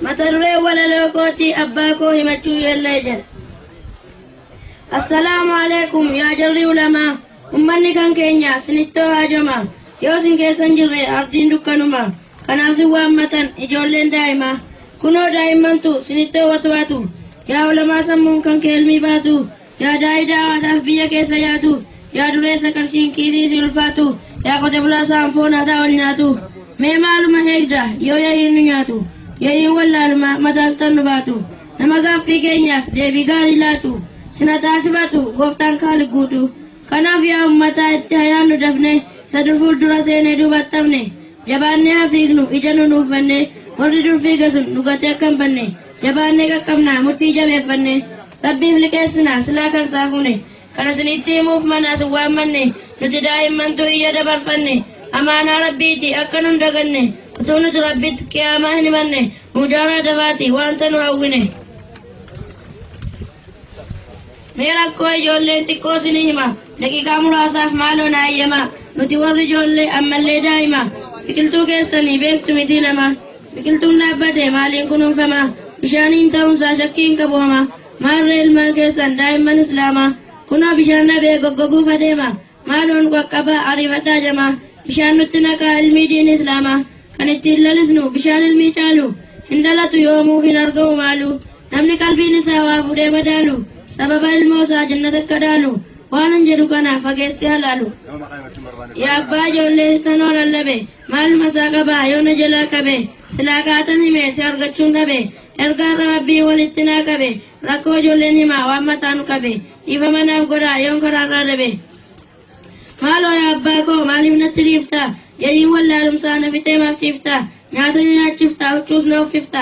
Mata duree walaloo kootii abbaa koo himachuu yeellee jedha. Assalaamu alaikum yaa jarri ulamaa ummanni kan keenya sinittoo haajoma yoo sin keessan jirre ardiin dukkanuma kanaaf sin waammatan ijoolleen daa'imaa kunoo daa'immantu sinittoo watwaatu yaa ulamaa sammuun kan keelmii baatu Yaada idaa haadhaaf biyya keessa yaatu, yaa dureessa qarshiin kiisii si ulfaatu, yaa qote bulaa saan foon haadhaa ol nyaatu. Mee maaluma heegda yoo yayiin nu nyaatu, yayiin wallaaluma mataaltan nu baatu. Nama gaaffii keenyaaf deebii gaarii laatu, sina taasifatu gooftaan kaali guutu. Kanaaf yaa ummataa itti hayaannu dafne, isa dur fuuldura seenee duubatti hafne. Jabaannee haa fiignu ija nu nuuffanne, warri dur fiiga sun nu gatee akka hin banne, jabaannee qaqqabna murtii jabeeffanne. Rabbiif liqeessina, silaa kan saafuune. Kan isinitti himuuf manaa isin waammanne, nuti daa'immantu iyya dabarfanne. Amaanaa Rabbiiti, akka nun daganne. Utuu nuti Rabbitti Qiyaamaa hin himanne, muudaaraa dafaati, wanta nu hawwine. Mee rakkoo ijoolleen xiqqoo isinii hima, daqiiqaa muraasaaf maaloo na hayyamaa. Nuti warri ijoollee, ammallee daa'ima. Biqiltuu keessanii beektu mitii lama. Biqiltuun dhaabbate maaliin kunuunfama? Bishaaniin ta'uunsaa shakkii hin qabu hama. Maarree ilmaan keessan daa'imman Islaama. Kunoo bishaan dhabee goggoguuf adeema. Maaloo nu qaqqabaa ariifadhaa jama. Bishaan nutti naqaa ilmii diini Islaama. Kan ittiin lalisnu bishaan ilmii caalu. Hin dhalatu yoomuu hin argamu maalu. Namni qalbiin isaa waa fuudhee madaalu. Sababa ilmoo isaa jannata akka dhaalu. Waanan jedhu kana fageessee halaalu. Yaa abbaa ijoollee tanoo lallabe. Maaluma isaa qabaa yoo na jalaa qabe silaa kaatan hime si argachuun dhabe erga har'a rabbii walitti naa qabe rakkoo ijoolleen himaa waan mataa nu qabe dhiifama naaf godhaa yoon karaarraa dabe. Maaloo yaa abbaa koo maaliif natti dhiifta yayiin wallaalumsaa na fixee maaf ciifta nyaata ni nyaachifta huccuus na uffifta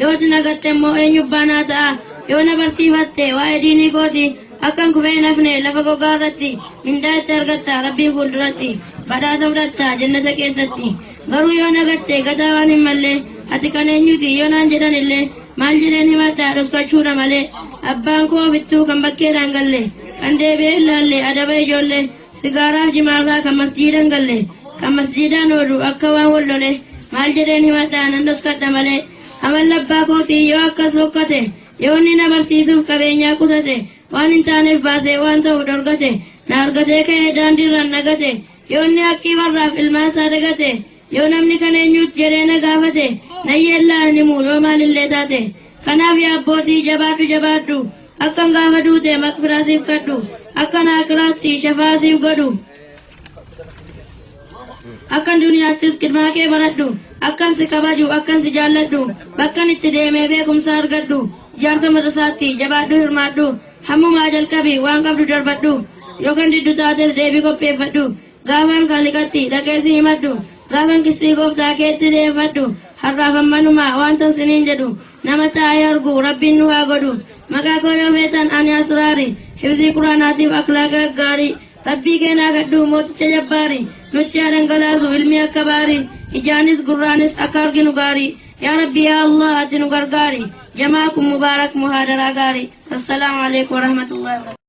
Yoo si na gatte immoo eenyu abbaa naa ta'a? Yoo na barsiifatte waa'ee diinii kooti akkan kufee hin hafne lafa gogaa irratti mindaa itti argatta Rabbiin fuulduratti badhaasa fudhatta jannata keessatti. Garuu yoo na gatte gataa waan hin mallee ati kan eenyuti yoo naan jedhan illee maal jedheen himadha dhoksachuudha malee abbaan koo bittuu kan bakkeedhaan galle kan deebi'ee hin laalle adaba ijoollee Sigaaraaf jimaafaa kan masjiida hin galle, kan masjiidaan oolu akka waan wal lole maal jedheen himadha nan dhoskadha malee amalli abbaa kootii yoo akkas fokkate yoo inni na barsiisuuf qabeenyaa qutate waan hin taaneef baasee waan ta'u dhorgate na argatee ka'ee daandiirraan nagate yoo inni haqqii warraaf ilmaan isaa dagate Yoo namni kan eenyuut jedhee na gaafate nan yeellaa hin himu yoo maalillee taate. Kanaaf yaa abbootii jabaadhu jabaadhu akkan gaafa duute maqfiraa siif kadhu akkan aakiraatti shafaa siif godhu. Akkan duniyaattis qidmaa kee baradhu akkan si kabaju akkan si jaalladhu bakkan itti deemee beekumsa argadhu jaarsa madrasaatti jabaadhu hirmaadhu hammumaa jalqabi waan qabdu darbadhu yoo kan diddu taates deebii qopheeffadhu. Gaafan Kaaliqatti dhaqee si himadhu, gaafan qisxii Gooftaa keetti dhiyeeffadhu, har'aaf ammanuma waantan siniin jedhu, nama taa'ee argu Rabbiin nu haa godhu. Maqaa koo yoo feetan ani Asraari, hifzii Qur'aanaatiif akhlaaqa gaggaarii, Rabbii keenaa kadhu mooticha jabbaari, nutti haa dhangalaasu ilmii akka baarii, ijaanis gurraanis akka arginu gaarii, yaa Rabbi yaa Allaah ati nu gargaari, Jamaa kun Mubaarak Muhaadaraa gaarii. Wassalaamu Aleykum Warahmatullahi Wabarakatuh.